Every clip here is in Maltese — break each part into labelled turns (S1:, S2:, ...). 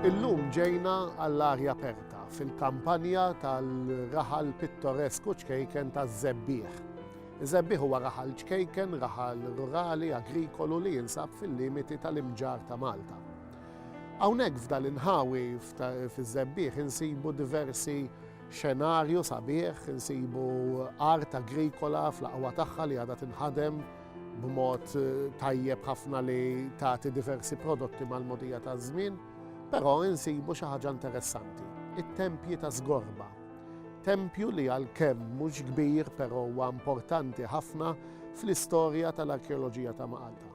S1: Illum ġejna għall-arja aperta fil-kampanja tal-raħal pittoresku ċkejken taż-Żebbieħ. Iż-Żebbieħ huwa raħal ċkejken, raħal rurali, agrikolu li jinsab fil-limiti tal-imġar ta' Malta. Hawnhekk f'dan inħawi fiż-Żebbieħ insibu diversi Xenarju sabiħ, insibu art agrikola fl-aqwa tagħha li għadha tinħadem b'mod tajjeb ħafna li tagħti diversi prodotti mal-mogħdija taż-żmien, però insibu xi ħaġa interessanti, it-tempji ta' Żgorba. Tempju li għalkemm mhux kbir però huwa importanti ħafna fl-istorja tal-arkeoloġija ta' Malta.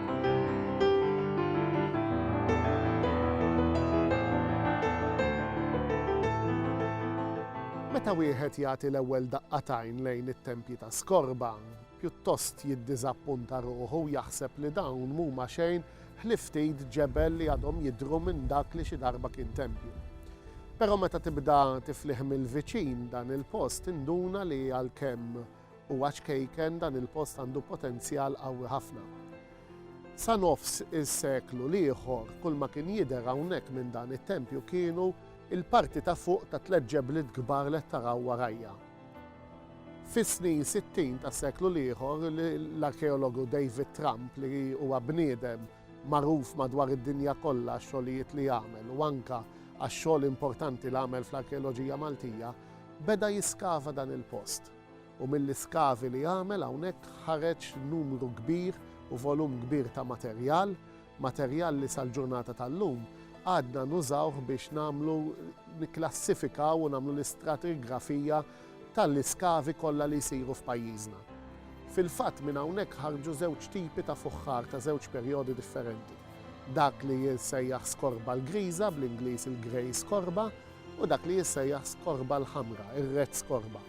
S1: Meta wieħed jagħti l-ewwel daqqa t'għajn lejn it-tempji ta' skorba, pjuttost jiddiżappunta ruħu u jaħseb li dawn m'huma xejn ħlief ftit ġebel li għadhom jidhru minn dak li xi darba kien tempju. Però meta tibda tiflih mill-viċin dan il-post tinduna li għalkemm U għax kejken dan il-post għandu potenzjal qawwi ħafna. Sa nofs is-seklu l-ieħor kull ma kien jidher hawnhekk minn dan it-tempju kienu il-parti ta' fuq ta' tliet ġebliet kbar li qed taraw warajja. Fis-snin sittin tas-seklu l-ieħor l-arkeologu David Trump li huwa bniedem magħruf madwar id-dinja kollha għax-xogħlijiet li għamel u anke għax-xogħol importanti li għamel fl-arkeoloġija Maltija, beda jiskava dan il-post. u mill-iskavi li għamel hawnhekk ħareġ numru kbir u volum kbir ta' materjal, materjal li sal-ġurnata tal-lum għadna nużawh biex nagħmlu, nikklassifikaw u nagħmlu l-istratigrafija tal-iskavi kollha li jsiru f'pajjiżna. Fil-fatt minn hawnhekk ħarġu żewġ tipi ta' fuħħar ta' żewġ perjodi differenti, dak li jissejjaħ skorba l-griża, bl-Ingliż il-grey skorba, u dak li jissejjaħ skorba l-ħamra, ir-red skorba.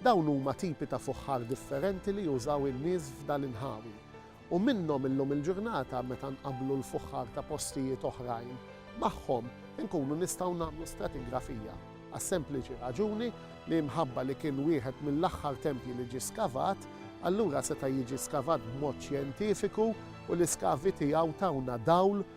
S1: Dawn huma tipi ta' fuħħar differenti li jużaw in-nies f'dan inħawi u minnhom illum il-ġurnata meta nqabblu l-fuħħar ta' postijiet oħrajn magħhom inkunu nistgħu nagħmlu stratigrafija għas-sempliċi raġuni li mħabba li kien wieħed mill-aħħar tempji li ġie skavat allura seta' jiġi skavat b'mod xjentifiku u l-iskavi tiegħu tawna dawl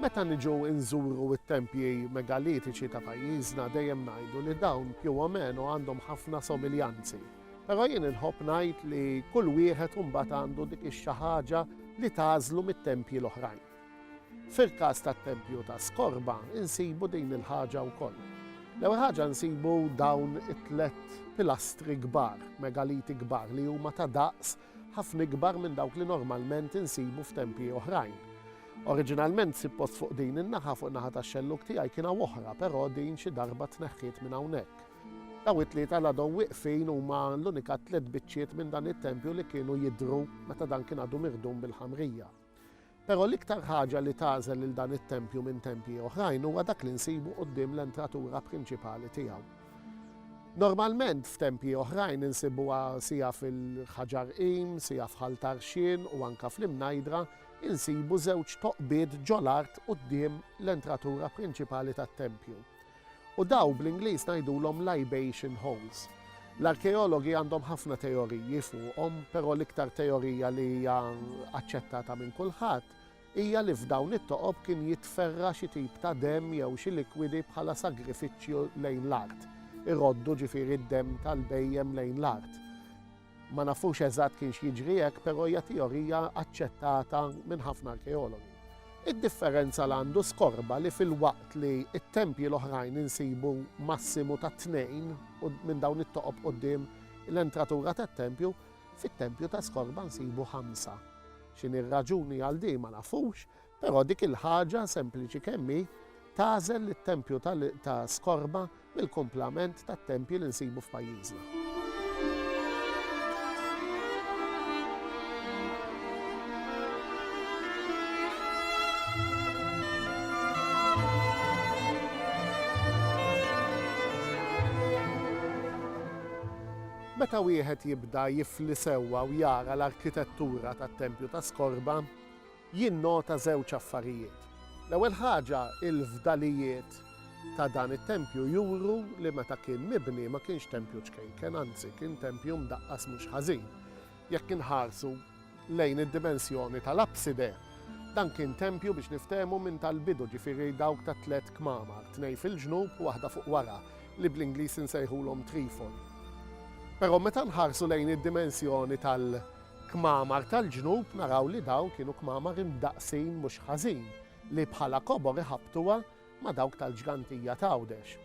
S1: Meta niġu nżuru t-tempji megalitiċi ta' pajjiżna dejjem ngħidu li dawn più o meno għandhom ħafna somiljanzi. Però jien inħobb ngħid li kull wieħed imbagħad għandu dik ix-xi ħaġa li tagħżlu mit-tempji l-oħrajn. Fil-każ tat-tempju ta' Skorba insibu din il-ħaġa wkoll. L-ewwel ħaġa nsibu dawn it-tliet pilastri kbar, megaliti kbar li huma ta' daqs ħafna ikbar minn dawk li normalment insibu f'tempji oħrajn. Oriġinalment sib post fuq din in-naħa, fuq in-naħa tax-xellug tiegħi kien hawn oħra, però din xi darba tneħħiet minn hawnhekk. Dawn it-tlieta li għadhom wieqfin huma l-unika tliet biċċiet minn dan it-tempju li kienu jidhru meta dan kien għadu miħdum bil-ħamrija. Però l-iktar ħaġa li tagħżel lil dan it-tempju minn tempji oħrajn huwa dak li nsibu quddiem l-entratura prinċipali tiegħu. Normalment f'tempji oħrajn insibuha sija fil-ħaġar qim, sija f'ħal tarxien u anke fl-imnajdra, insibu żewġ toqbiet ġol-art quddiem l-entratura prinċipali tat-tempju. U dawn bl-Ingliż ngħidulhom libation holes. L-arkeologi għandhom ħafna teoriji fuqhom, però l-iktar teorija li hija aċċettata minn kulħadd hija li f'dawn it-toqob kien jitferra' xi tip ta' demm jew xi likwidi bħala sagrifiċċju lejn l-art, iroddu ġifieri d-demm tal-bhejjem lejn l-art. Ma nafux eżatt kienx jiġri hekk, però hija teorija aċċettata minn ħafna arkeologi. Id-differenza li għandu Skorba li filwaqt li t-tempji l-oħrajn insibu massimu ta' tnejn minn dawn it-toqob quddiem l-entratura tat-tempju, fit-tempju ta' Skorba nsibu ħamsa. X'inhi r-raġuni għal din ma nafux, Però dik il-ħaġa, sempliċi kemm hi, tagħżel lit-tempju ta' skorma mill-kumplament tat-tempji li nsibu f'pajjiżna. Meta wieħed jibda jifli sewwa u jara l-arkitettura tat-tempju ta' skorba, jinnota żewġ affarijiet. L-ewwel ħaġa, il-fdalijiet ta' dan it-tempju juru li meta kien mibni ma kienx tempju ċkejken, anzi kien tempju mdaqqas mhux ħażin. Jekk inħarsu lejn id-dimensjoni tal-apside, dan kien tempju biex niftehmu minn tal-bidu, ġifieri dawk ta' tliet kmamar, tnejn fil-ġnub u waħda fuq wara, li bl-Ingliż insejħulhom trifoli. Però meta nħarsu lejn id-dimensjoni tal- Kmamar tal-ġnub naraw li dawn kienu kmamar imdaqqsin mhux ħażin li bħala kobor iħabbtuha ma' dawk tal-ġgantija t'Għawdex.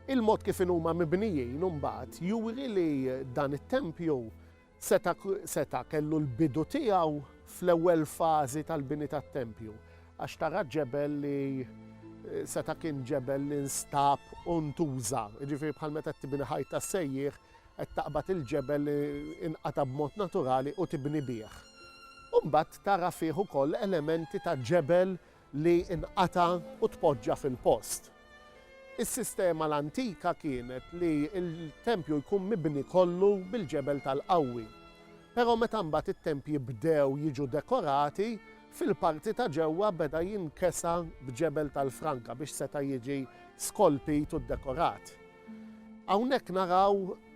S1: Il-mod kif inhuma mibnijin imbagħad juri li dan it-tempju seta' seta' kellu l-bidu tiegħu fl-ewwel fażi tal-bini tat-tempju għax tara ġebel li seta' kien ġebel li nstab u ntuża, jiġifieri bħal meta qed tibni ħajt tas-sejjieħ qed taqbad il-ġebel li inqata' b'mod naturali u tibni bih. U mbagħad tara fih ukoll elementi ta' ġebel li inqata' u tpoġġa fil-post. Is-sistema l-antika kienet li l-tempju jkun mibni kollu bil-ġebel tal-qawwi. Però meta mbagħad it-tempji bdew jiġu dekorati, fil-parti ta' ġewwa beda jinkesa b'ġebel tal-franka biex seta' jiġi skolpit u ddekorat. Hawnhekk naraw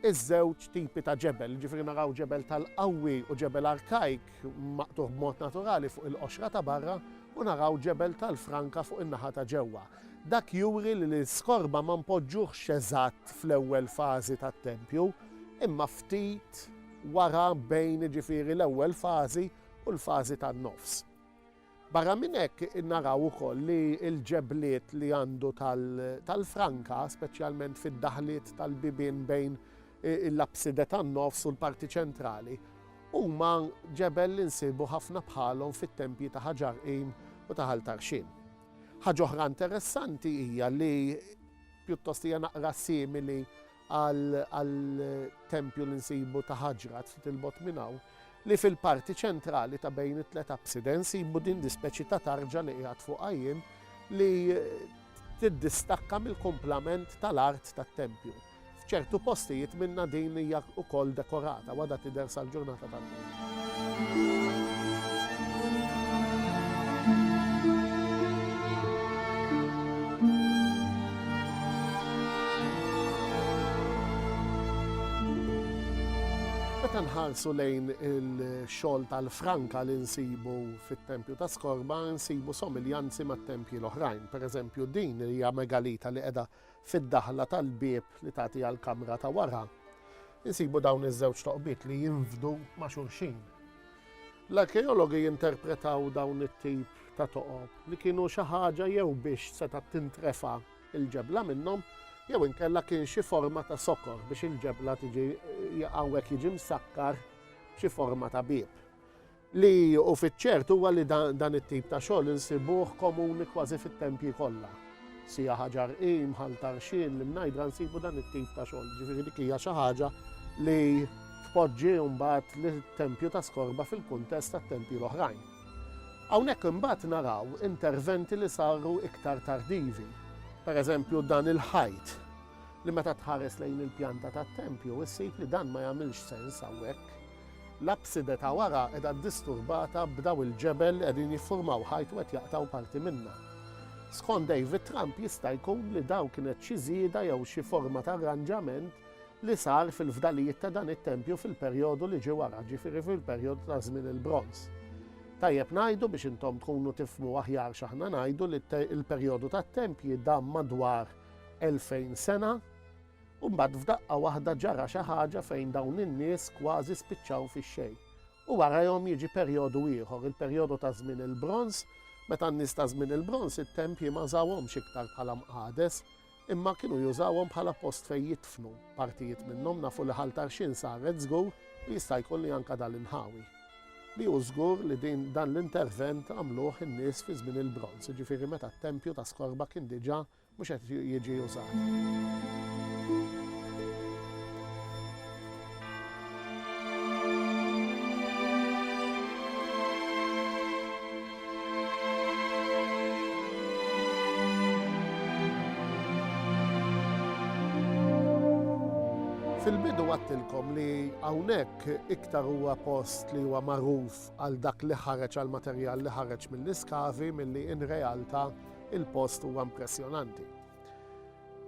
S1: iż-żewġ tipi ta' ġebel, jiġifieri naraw ġebel tal-qawwi u ġebel arkajk maqtugħ b'mod naturali fuq il-qoxra ta' barra u naraw ġebel tal-franka fuq in-naħa ta' ġewwa. Dak juri li l-iskorba ma npoġġuhx eżatt fl-ewwel fażi tat-tempju, imma ftit wara bejn jiġifieri l-ewwel fażi u l-fażi tan-nofs. Barra minn hekk naraw ukoll li l-ġebliet li għandu tal-franka, speċjalment fid-daħliet tal-bibien bejn l-apside tan-nofs u l-parti ċentrali, huma ġebel li nsibu ħafna bħalhom fit-tempji ta' Ħaġar Qim u ta' Ħal Tarxien. Ħaġa oħra interessanti hija li, pjuttost hija naqra simili għall-tempju li nsibu ta' Ħaġrat ftit 'il bogħod minn hawn, li fil-parti ċentrali ta' bejn it-tliet apside nsibu din l-ispeċi ta' tarġa li qiegħed fuqha jien li tiddistakka mill-kumplament tal-art tat-tempju. F'ċertu postijiet minnha din hija wkoll dekorata u għadha tidher sal-ġurnata tal-lum. Meta nħarsu lejn il-xogħol tal-franka li nsibu fit-tempju ta' Skorba, nsibu somiljanzi mat-tempji l-oħrajn. Per eżempju, din hija megalita li qiegħda Fid-daħla tal-bieb li tagħti għall-kamra ta' wara, insibu dawn iż-żewġ toqbiet li jinfdu ma' xulxin. L-arkeologi jinterpretaw dawn it-tip ta' toqob li kienu xi ħaġa jew biex setgħet tintrefa' l-ġebla minnhom jew inkella kien xi forma ta' sokor biex il-ġebla tiġi hawnhekk jiġi msakkar b'xi forma ta' bieb. Li hu fiċ-ċert huwa li dan it-tip ta' xogħol insibuh komuni kważi fit-tempji kollha. Sija Ħaġar I, Mħall Tarxien, l-Imnajdra nsibu dan it-tip ta' xogħol, jiġifieri dik hija xi ħaġa li tpoġġi mbagħad lit-tempju ta' Skorba fil-kuntest tat-tempji l-oħrajn. Hawnhekk imbagħad naraw interventi li saru iktar tardivi. Pereżempju dan il-ħajt li meta tħares lejn il-pjanta tat-tempju issib li dan ma jagħmilx sens hawnhekk. L-apside ta' wara qiegħda ddisturbata b'daw il-ġebel li qegħdin jiffurmaw ħajt u qed jaqtgħu parti minnha. Skont David Tramp jista' jkun li daw kienet xi żieda jew xi forma ta' arranġament li sar fil-fdalijiet ta' dan it-tempju fil-perjodu li ġie wara, ġifieri fil-perjodu ta' żmien il-Bronż. Tajjeb ngħidu biex intom tkunu tifhmu aħjar x'aħna ngħidu li l-perjodu tat-tempji dam madwar 2000 sena. U mbagħad f'daqqa waħda ġara xi ħaġa fejn dawn in-nies kważi spiċċaw fix-xejn. U warajhom jiġi perjodu ieħor, il-perjodu ta' Żmien il-Bronż, meta n-nies ta' Żmien il-Bronż it-tempji ma żawhomx iktar bħala mqades, imma kienu jużawhom bħala post fejn jidfnu. Partijiet minnhom nafu li Ħal Tarxien saret żgur u jista' jkun li anke dan l-inħawi. Li hu żgur li din dan l-intervent għamluh in-nies fi Żmien il-Bronż, jiġifieri meta t-tempju ta' Skorba kien diġà Mhux qed jiġi użat. Fil-bidu għedtilkom li hawnhekk iktar huwa post li huwa magħruf għal dak li ħareġ għall-materjal li ħareġ mill-iskavi milli in realta' il-post huwa impressjonanti.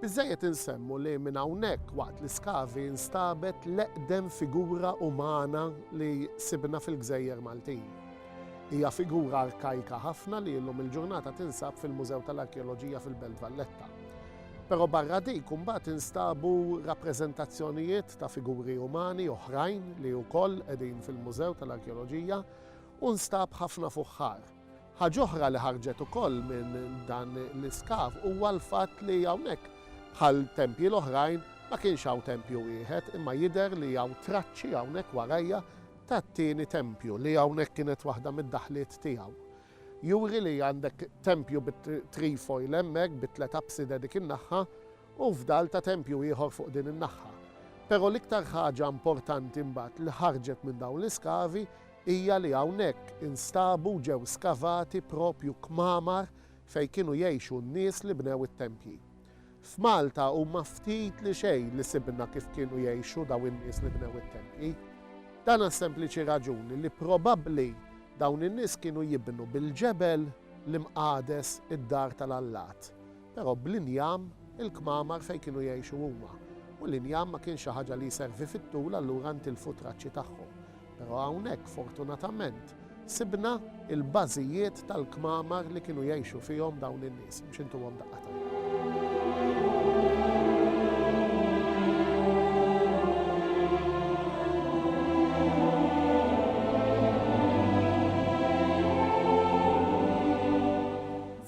S1: Biżżejjed insemmu li minn hawnhekk waqt l-iskavi nstabet l-eqdem figura umana li sibna fil-gżejjer Maltin. Hija figura arkajka ħafna li illum il-ġurnata tinsab fil-Mużew tal-Arkeoloġija fil-Belt Valletta. Però barra dik imbagħad instabu rappreżentazzjonijiet ta' figuri umani oħrajn li wkoll qegħdin fil-Mużew tal-Arkeoloġija u nstab ħafna fuħħar. Ħaġ'oħra li ħarġet ukoll minn dan l-iskav huwa l-fatt li hawnhekk, bħal tempji l-oħrajn, ma kienx hawn tempju wieħed imma jidher li hawn traċċi hawnhekk warajja tat-tieni tempju li hawnhekk kienet waħda mid-daħliet tiegħu. Juri li għandek tempju bit-trefoil hemmhekk bi tliet apside dik in-naħħa u fdal ta' tempju ieħor fuq din in-naħħa. Però l-iktar ħaġa importanti mbagħad li ħarġet minn dawn l-iskavi hija li hawnhekk instabu u ġew skavati proprju kmamar fejn kienu jgħixu n-nies li bnew it-tempji. F'Malta huma ftit li xejn li sibna kif kienu jgħixu dawn in-nies li bnew it-tempji. Dan għas-sempliċi raġuni li probabbli dawn in-nies kienu jibnu bil-ġebel l-imqades id-dar tal-allat. Però bl-injam, il-kmamar fejn kienu jgħixu huma. U l-injam ma kienx xi ħaġa li jservi fit-tul allura ntilfu t-traċċi tagħhom. Però hawnhekk, fortunatament, sibna l-bażijiet tal-kmamar li kienu jgħixu fihom dawn in-nies. Mhux intuhom daqqa t'għajn.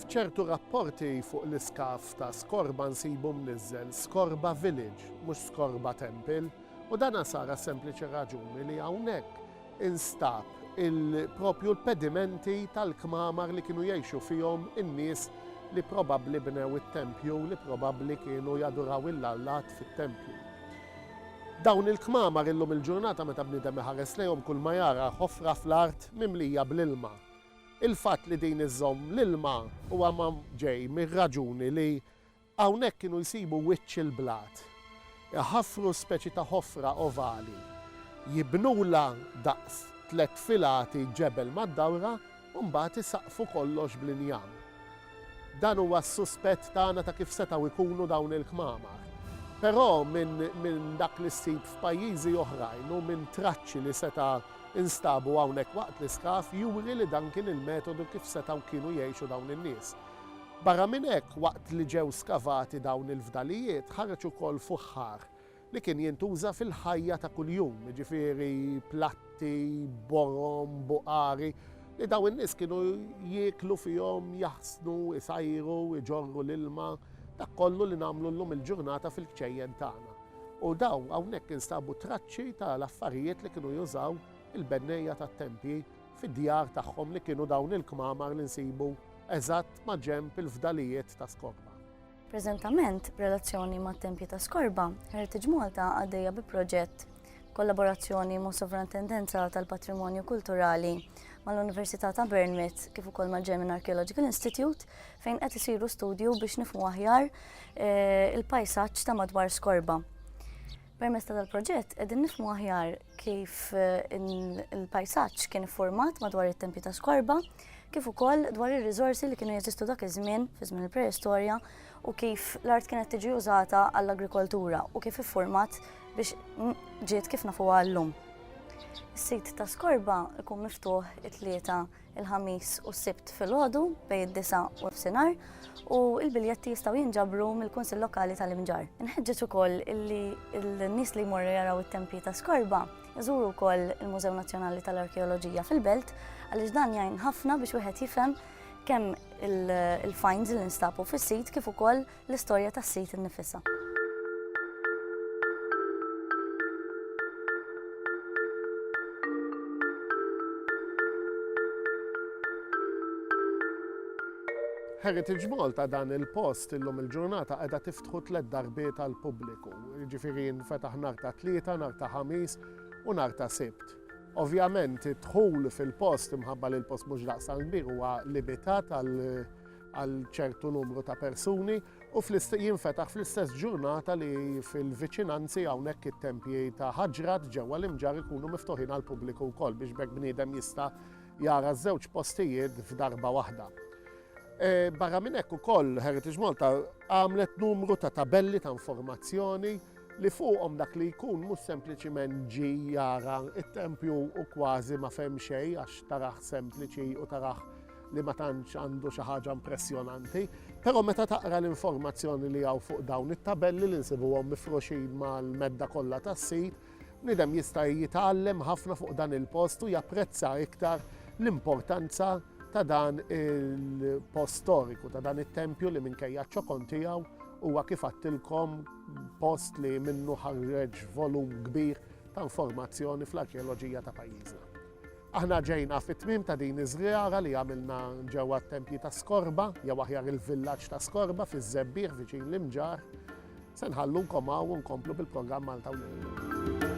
S1: F'ċertu rapporti fuq l-iskaf ta' Skorba nsibu mniżżel Skorba Village, mhux Skorba Temple, u dan sar għas-sempliċi raġuni li hawnhekk instab il-propju l-pedimenti tal-kmamar li kienu jgħixu fihom in-nies li probabbli bnew it-tempju, li probabbli kienu jaduraw il-allat fit-tempju. Dawn il-kmamar illum il-ġurnata meta bniedem iħares lejhom kulma jara ħofra fl-art mimlija bl-ilma. Il-fatt li din iżżomm l-ilma huwa ġej mir-raġuni li hawnhekk kienu jsibu wiċċ il-blat, iħaffru speċi ta' ħofra ovali, jibnulha daqs tliet filati ġebel mad-dawra u mbagħad isaqqfu kollox bl-injam. Dan huwa s-suspett tagħna ta' kif setgħu jkunu dawn il-kmamar. Però minn minn dak li ssib f'pajjiżi oħrajn u minn traċċi li seta' instabu hawnhekk waqt l-iskav juri li dan kien il-metodu kif setgħu kienu jgħixu dawn in-nies. Barra minn hekk, waqt li ġew skavati dawn il-fdalijiet, ħareġ ukoll fuħħar li kien jintuża fil-ħajja ta' kuljum, jiġifieri platti, borom, buqari, li dawn in-nies kienu jieklu fihom, jaħsnu, isajru, iġorru l-ilma, dak kollu li nagħmlu llum il-ġurnata fil-kċejjen tagħna. U dawn hawnhekk instabu traċċi ta' l-affarijiet li kienu jużaw il-bennejja tat-tempji fid-djar tagħhom li kienu dawn il-kmamar li nsibu eżatt maġenb il-fdalijiet ta' Skorma. Preżentament, b'relazzjoni mat-Tempji ta' Skorba, Heritage Malta għaddejja bi proġett kollaborazzjoni ma' Sovrantendenza tal-Patrimonju Kulturali mal-Università ta' Bournemouth kif ukoll mal-German Archaeological Institute fejn qed isiru studju biex nifhmu aħjar eh, il-pajsaġġ ta' madwar Skorba. Permezz tal-proġett qegħdin nifhmu aħjar kif il-pajsaġġ kien iffurmat madwar it-tempji ta' skorba, kif ukoll dwar ir-riżorsi li kienu jeżistu dak iż-żmien, fi żmien il-preistorja, u kif l-art kienet tiġi użata għall-agrikoltura u kif iffurmat biex ġiet kif nafuha llum. Is-sit ta' skorba jkun miftuħ it-tlieta il-Ħamis u s-Sibt filgħodu bejn id-disa u l-fsinar u l-biljetti jistgħu jinġabru mill-Kunsill Lokali tal-Imġar. Inħeġġeġ ukoll illi l-nies li jmorru jaraw it-tempji ta' Skorba jżuru wkoll il-Mużew Nazzjonali tal-Arkeoloġija fil-Belt għaliex dan jgħin ħafna biex wieħed jifhem kemm il-finds li nstabu fis-sit kif ukoll l-istorja tas-sit innifisha. Heritage Malta dan il-post illum il-ġurnata qiegħda tiftħu tliet darbiet għal pubbliku. Ġifieri nfetaħ nhar ta' tlieta, nhar ta' ħamis u nhar ta' sibt. Ovvjament id-dħul fil-post imħabba li l-post mhux daqsan kbir huwa limitat għal għal ċertu numru ta' persuni u jinfetaħ fl-istess ġurnata li fil-viċinanzi hawnhekk it-tempji ta' Ħaġrat ġewwa l-Imġarr ikunu miftuħin għall-pubbliku wkoll biex b'hekk bniedem jista' jara ż-żewġ postijiet f'darba waħda. E, barra minn hekk ukoll Heritage Malta għamlet numru ta' tabelli ta' informazzjoni li fuqhom dak li jkun mhux sempliċiment ġi jara it-tempju u kważi ma fehem xejn għax taraħ sempliċi u taraħ li ma tantx għandu xi ħaġa impressjonanti, però meta taqra l-informazzjoni li hawn fuq dawn it-tabelli li nsibuhom mifruxin mal-medda kollha tas-sit, bniedem jista' jitgħallem ħafna fuq dan il-post u japprezza iktar l-importanza ta' dan il-post storiku, ta' dan it-tempju li minkejja ċokon tiegħu huwa kif għattilkom post li minnu ħarreġ volum kbir ta' informazzjoni fl-arkeoloġija ta' pajjiżna. Aħna ġejna fit-tmiem ta' din iż-żjara li għamilna ġewwa t-Tempji ta' Skorba, jew aħjar il-villaġġ ta' Skorba fiż-Żebbiegħ viċin l-Imġarr. Se nħallunkom hawn u nkomplu bil-programm Malta u Lejlu.